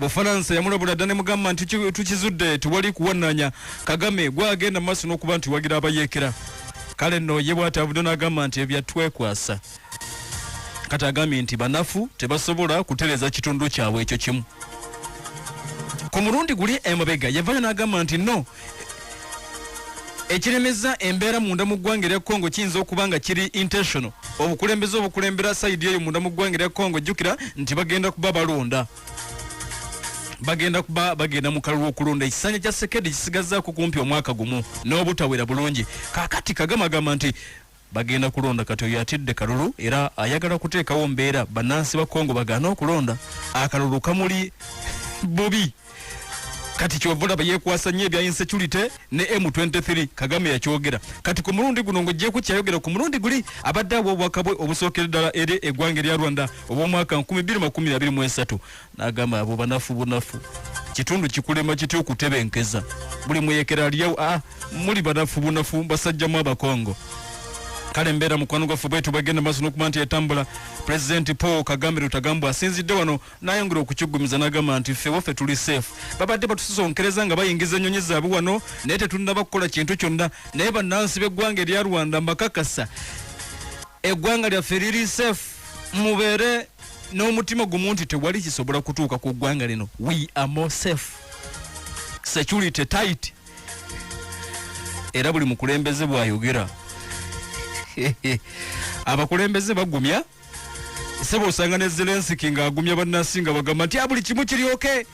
bufalansa yamulabula dda ne mugamba nti tukizudde tewali kuwananya kagame gwagenda mu maaso n'okuba nti wagira abayeekera kale nno ye bwatavudde n'agamba nti ebyatwekwasa kati agambye nti banafu tebasobola kutereza kitundu kyabwe ekyo kimu ku mulundi guli emabega yavayo n'agamba nti no ekiremeza embeera munda mu ggwanga erya congo kiyinza okuba nga kiri intentional obukulembeze obukulembera sayidi eyo munda mu ggwanga erya congo jjukira nti bagenda kuba balonda bagenda kuba bagenda mu kalulu okulonda ekisanja kya sekedi kisigazaako kumpi omwaka gumu n'obutawera bulungi kakati kagama agamba nti bagenda kulonda kati oyo atidde kalulu era ayagala kuteekawo mbeera bannansi ba kongo bagaana okulonda akalulu kamuli bubi kati kyovolaba yekwasa nnyo ebya insecurity ne m23 kagame yakyogera kati ku mulundi guno ng'ogyeko kyayogera ku mulundi guli abadde abwobwakabwe obusookera ddala eri eggwanga erya rwanda obw'omwaka 2023 nagamba abo banafu bunafu kitundu kikulema kitya okutebenkeza buli muyekera aliyawo a ah, muli banafu bunafu basajjamu abakongo kale mbeera mukwano gwaffe bwetu bagenda maaso nokuba nti etambula pulezidenti paul kagame lutagambwa asinzidde wano nayongera okukigumiza nagamba nti ffe waffe tuli safe babadde batusisonkereza nga bayingiza ennyonyi zaabwe wano naye tetunaba kukola kintu kyonna naye bannansi b'eggwanga erya rwanda mbakakasa eggwanga lyaffe liri safe mubeere n'omutima gumu nti tewali kisobola kutuuka ku ggwanga lino we are more safe security tight era buli mukulembeze bwayogera abakulembeze bagumya sebo osanga ne zelensiki ng'agumya bannansi nga bagamba nti abuli ah, kimu kiryoke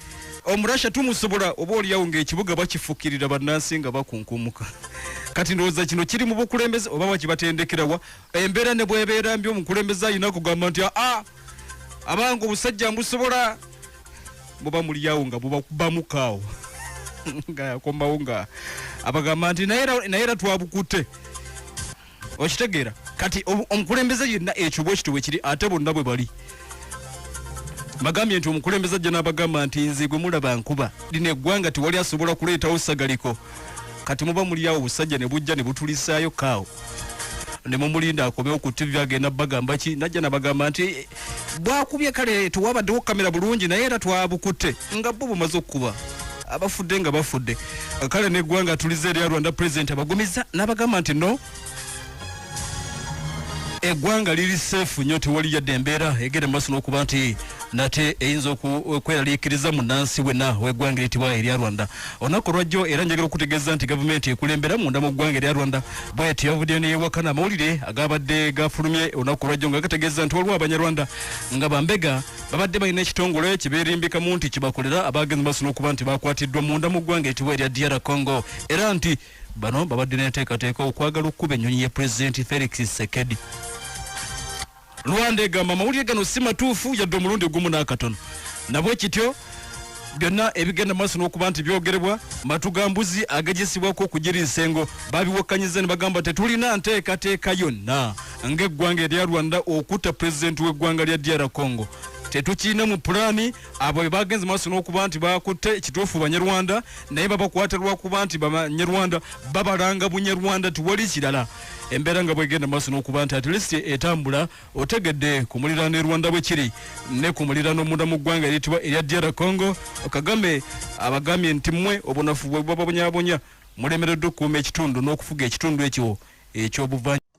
omurasha tumusobola oba oliyawo ngaekibuga bakifukirira bannansi nga bakunkumuka kati ndowooza kino kiri mu bukulembeze oba wakibatendekerawa embeera ne bwebeera mbi omukulembeze alina kugamba nti aa abange obusajja mbusobola buba mulyawo nga bubakubamukaawo nga yakomawo nga abagamba nti naye era twabukute okitegeera kati omukulembeze yenna ekyo bwekityo bwekiri ate bonna bwe bali bagambye nti omukulembeze ajja n'abagamba nti nze gwe mulaba nkuba lino eggwanga tewali asobola kuleetawo sagaliko kati muba muliawo obusajja ne bujja ne butulisaayo kaawo ne mumulinda akomewo ku ttivi agenda bagamba ki najja nabagamba nti bwakubye kale tewabaddewo kamera bulungi naye era twabukutte nga bo bumaze okukuba abafudde nga bafudde kale neggwanga tulize erya rwanda pulezidenti abagumiza n'abagamba nti no eggwanga liri seefu nnyo tewali yadde embeera egenda mu maaso n'okuba nti nate eyinza okweraliikiriza munnansi wenna w'eggwanga eritibwa erya rwanda olunaku olwajjo era njagala okutegeeza nti gavumenti ekulembera munda mu ggwanga erya rwanda bwet yavuddeyo neyewakana amawulire agabadde gafulumye olunaku olwajjo nga gategeeza nti waliwo abanyarwanda nga bambega babadde balina ekitongole kiberimbikamu nti kibakolera abaagenze maaso n'okuba nti bakwatiddwa munda mu ggwanga eritibwa erya dr congo era nti Bano babadde n'enteekateeka okwagala okukuba ennyonyi ya pulezidenti Felix Tshisekedi. Rwanda egamba amawulire gano si matuufu yadde omulundi gumu n'akatono. Nabwe kityo byonna ebigenda maaso n'okuba nti byogerebwa matu ga mbuzi agagisibwako okugira ensengo babiwakkanyiza ne bagamba tetulina nteekateeka yonna ng'eggwanga erya Rwanda okutta pulezidenti w'eggwanga lya DR Congo tetukirina mu pulaani abo be bagenze maaso n'okuba nti bakutte ekituufu banyarwanda naye babakwata lwakuba nti banyarwanda babalanga bunyarwanda tiwali kirala embeera nga bwegenda maaso n'okuba nti atlisi etambula otegedde ku muliraano e rwanda bwe kiri ne ku muliraano omunda mu ggwanga eritibwa erya dr congo kagame abagambye nti mmwe obunafu bwe bubabonyabonya mulemereddwa okukuuma ekitundu n'okufuga ekitundu ekyo eky'obuvanyu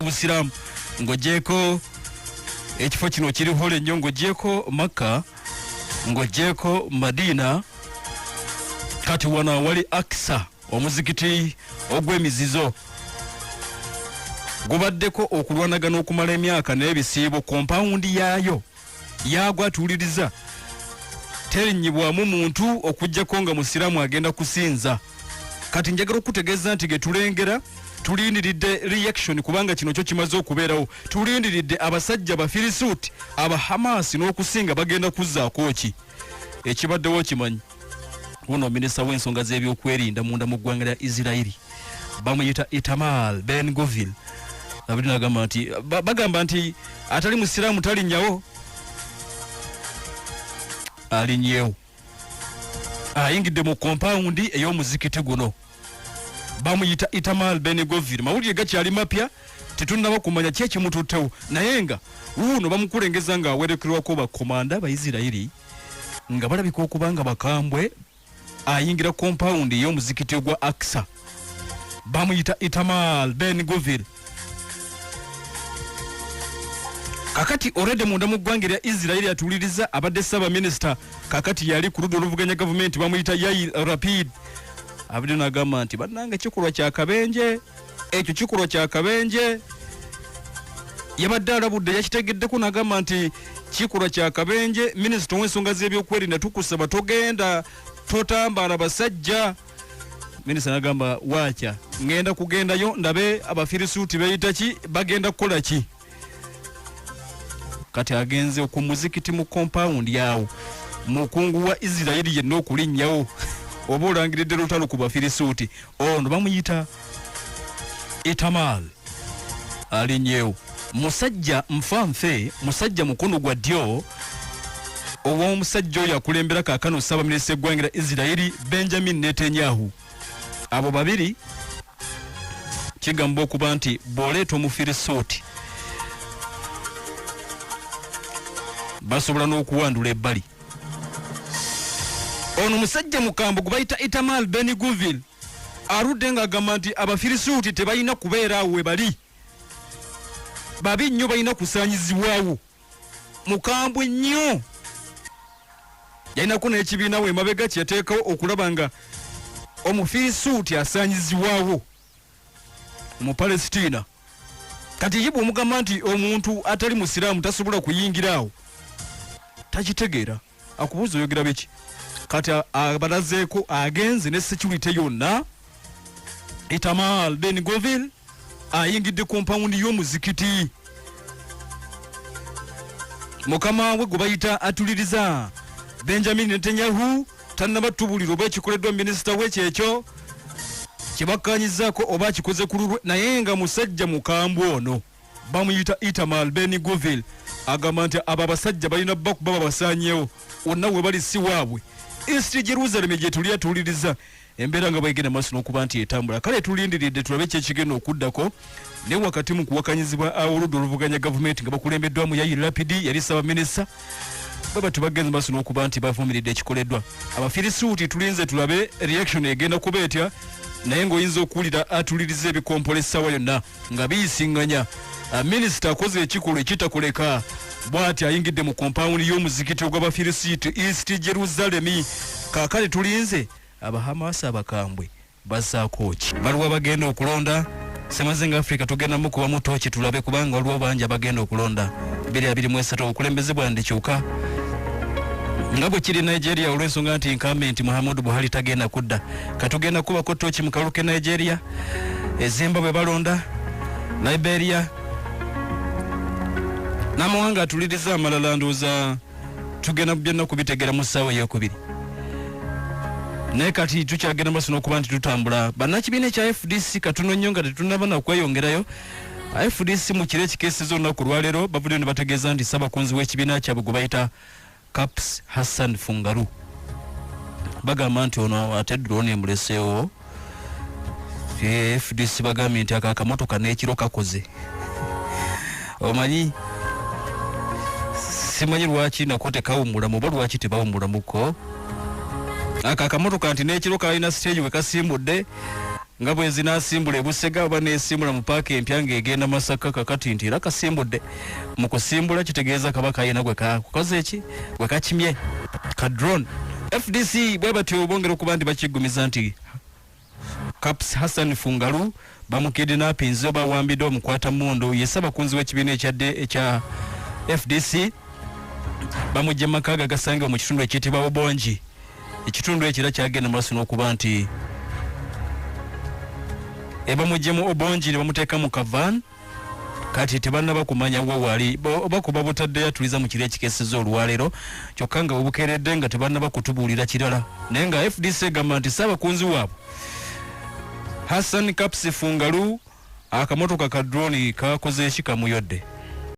busiramu ng'ogyeko ekifo kino kirihola ennyo ng'ogyeko makka ng'ogyeko madiina kati wano awali akisa omuzikiti ogw'emizizo gubaddeko okulwanagana okumala emyaka n'ebisiibo ku mpawundi yaayo yagwa tuwuliriza terinyibwamu muntu okujjako nga musiraamu agenda kusinza kati njagala okukutegeeza nti getulengera tulindiridde reaction kubanga kino kyo kimaze okubeerawo tulindiridde abasajja bafirisuuti abahamaasi n'okusinga bagenda kuzzaako ki ekibaddewo kimanyi Ono minisita w'ensonga z'ebyokwerinda munda mu ggwanga lya Isirairi bamuyita Itamar Ben Govil abiri nagamba nti bagamba nti atali musiraamu talinnyawo alinnyewo ayingidde mu kompawundi ey'omuzikiti guno bamuyita Itamar Ben Govil mawulire gakyali mapya tetunnaba kumanya ki ekimututtewo naye nga wuuno bamukulengeza ng'awerekerwako bakomanda baisirairi nga balabika okuba nga bakambwe ayingira kompawundi ey'omuzikiti ogwa aksa bamuyita itamal ben govil kakati orede munda mu ggwanga erya isirairi atuuliriza abadde ssaabaminisita kakati yali ku ludda oluvuganya gavumenti bamuyita yair rapid abadde nagamba nti bannanga kikolwa kyakabenje ekyo kikulwa kya kabenje yabadde alabudde yakitegeddeko nagamba nti kikulwa kya kabenje minisita owensonga z'ebyokwerinda tukusaba togenda totambaala basajja minisita nagamba waakya ngenda kugendayo ndabe abafirisuuti beyita ki bagenda kukola ki kati agenze ku muzikiti mu kompawundi awo mukungu wa isirairi yenna okulinnyawo oba olangiridde lutalo ku bafirisuuti ono bamuyita itamal alinnyewo musajja nfa nfe musajja mukono gwa ddyo ow'omusajja oyo akulembera kaakano ssaabaminisita eggwanga lya isirairi benjamin netanyahu abo babiri kigamba okuba nti bw'oleeta omufirisuuti basobola n'okuwandula ebbali ono musajja mukambo gwe bayita itamal ben guvil aludde ng'agamba nti abafirisuuti tebalina kubeera awo we bali babi nnyo balina kusaanyizibwawo mukambwe nnyo yalinako n'ekibiina we emabega kye yateekawo okulaba nga omufirisuuti asaanyizibwawo mu palesitiina kati ye bwomugamba nti omuntu atali musiraamu tasobola kuyingira awo takitegeera akubuuza oyogera biki kati abalazeeko agenze ne security yonna itamal ben govil ayingidde kompawundi y'omuzikiti mukama we gwe bayita atuliriza benjamin netanyahu tannabatubulira oba ekikoleddwa minisita we kyekyo kyebakkanyizzaako oba akikoze ku lulwe naye nga musajja mukambwe ono bamuyita itamal ben govil agamba nti abo abasajja balina bakuba babasanyewo wonna webali si waabwe ensiti jerusalemu gyetuli atuwuliriza embeera nga bwegenda maaso n'okuba nti etambula kale tulindiridde tulabe kyekigenda okuddako ne wakati mu kuwakanyizibwa awoludda oluvuganya gavumenti nga bakulembeddwamu yayi lapidi yali ssabaminisita baba tubagenze maaso n'okuba nti bavumiridde ekikoleddwa abafirisuuti tulinze tulabe reaction egenda kuba etya naye ng'oyinza okuwulira atuliriza ebikompole essaawa yonna nga biyisinganya ah, minisita akoze ekikolwa ekitakuleka bwati ayingidde mu kompawundi y'omuzikiti ogw'abafirisiiti east jerusalemi kaakale tulinze abahamaasi abakambwe bazaako ki baliwo abagenda okulonda semazinga africa tugenda mukuba mutoki tulabe kubanga waliwo bangi abagenda okulonda 223 obukulembeze bwandi kyuka nga bwe kiri nigeria olw'ensonga nti nkambe nti muhammadu buhari tagenda kudda katugenda kubako toki mu kalulu ke nigeria ezimba bwe balonda liberia n'amawanga atuliriza amalala ndowooza tugenda byonna kubitegera mu ssaawa eyokubiri naye kati tukyagenda maso n'okuba nti tutambula bannakibiina ekya fdc katuno nnyo nga tetunaba na kweyongerayo fdc mu kiro ekikeeseza olunaku olwaleero bavuddeyo ne bategeeza nti ssabakunzi w'ekibiina kyabwe gwe bayita Kaps Hassan Fungaru bagamba nti ono ate drone emuleseewo fdc bagambye nti ako akamotoka n'ekiro kakoze omanyi simanyi lwaki nako tekawumulamu oba lwaki tebawumulamuko ako akamotoka nti n'ekiro kalina siteegi we kasimbudde nga bwe nzinaasimbula e Busega oba neesimbula mu paaka empya ng'egenda Masaka kakati nti era kasimbudde mu kusimbula kitegeeza kaba kayina gwe kakukoze eki gwe kakimye ka drone FDC bwe batyo bongera okuba nti bakiggumiza nti Kaps Hassan Fungalu bamukidinapinze oba awambidde omukwata mundu ye ssabakunzi w'ekibiina ekyadde ekya FDC bamujja mu maka ge agasangibwa mu kitundu ekiyitibwa Obongi Ekitundu ekyo era kyagenda mu maaso n'okuba nti ebamuggyemu obongi ne bamuteeka mu kavan kati tebannaba kumanya wa wali oba kuba butaddeyo atuliza mu kiro ekikeseza olwaleero kyokka nga webukeeredde nga tebannaba kutubuulira kirala naye nga fdc egamba nti saabakunzi waabwe hassan kapsi fungalu akamotoka ka droni kakoze eki kamuyodde